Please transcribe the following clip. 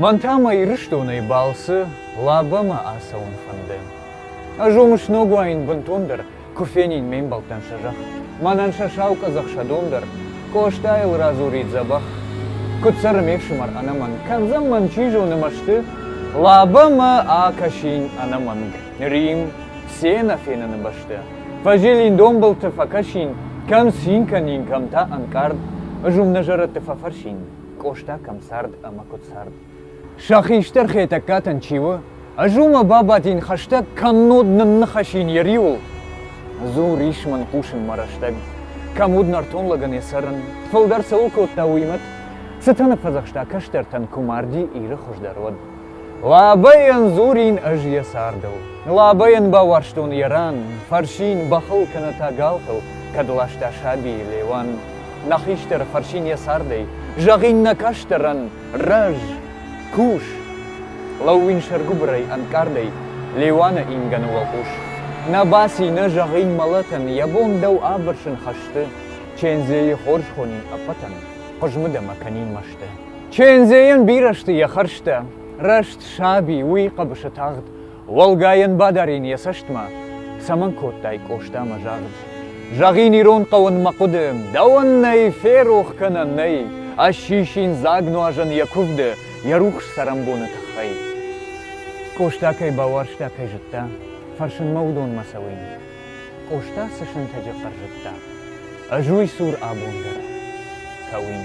Мӕн та мӕ Ирыстонӕй балцы Лабӕмӕ ацӕуын фӕнды. Ӕз уым сног уаин бынтондӕр, куы фенин ме мбӕлттӕн сӕ зӕхх, мӕнӕн сӕ сау къӕдзӕх сӕ дон дӕр, Къостайыл радзурид дзӕбӕх. Куыд цӕры ме фсымӕр ӕнӕмӕнг, кӕндзӕн мӕн, чи зоны, мӕсты? Лабӕмӕ акӕсин ӕнӕмӕнг, Рим, се нӕфеныны бӕсты. Фӕзилин донбылты, фӕкӕсин, кӕм цин кӕнин, кӕм та ӕнкъард. Ӕз уым нӕ зӕрӕдты фӕфӕрсин. Къоста кӕм цард ӕмӕ куыд цард? Сӕ хистӕр Хетӕгкатӕн чи у? Ӕз уымӕ бабадин хӕстӕг, кӕннод нынныхасин йӕ риуыл. Дзу, рис мын хъусын мӕ рӕстӕг. Кӕм уыд нӕртон лӕгӕн йӕ цӕрын? Фылдӕр цӕуыл кодта уый мӕт? Цытӕ ныффӕдзӕхста кӕстӕртӕн, куы марди Иры хуыздӕр уӕд? Лабӕйӕн дзурин ӕз йӕ цардыл. Лабӕйӕн бауарзтон йӕ ран, фӕрсин бӕхыл кӕнӕ та галхыл, кӕд ласта сабийы Леуан. Нӕ хистӕр фӕрсин йӕ цардӕй, зӕгъин нӕ кӕстӕрӕн, рӕз, кус. Лӕууин сӕргуыбырӕй ӕнкъардӕй, Леуаны ингӕны уӕлхъус. Нӕ баци, нӕ зӕгъин мӕлӕтӕн, йӕ бон дӕу абырсын хӕсты. Чендзейы хорз хонин ӕппӕтӕн, хъызмыд ӕмӕ кӕнин мӕсты. Чендзейӕн бирӕ сты йӕ хӕрзтӕ. Рӕст саби, уый хъӕбысы тагъд, уӕлгайӕн бадарин йӕ цӕстмӕ, цӕмӕн кодтай Къостамӕ загъд. Зӕгъин ирон хъӕуын мӕ хъуыды, дӕуӕн нӕй, ферох кӕнӕн нӕй, ӕссисин дзаг нуазӕн йӕ куывды, йӕ рухс цӕрӕнбоны тыххӕй. Къоста кӕй бауарзта, кӕй зыдта, фӕрсынмӕ уыдонмӕ цӕуин. Къоста цы сынтӕджы хъӕр зыдта. Ӕз уый цур абон дӕр кӕуин.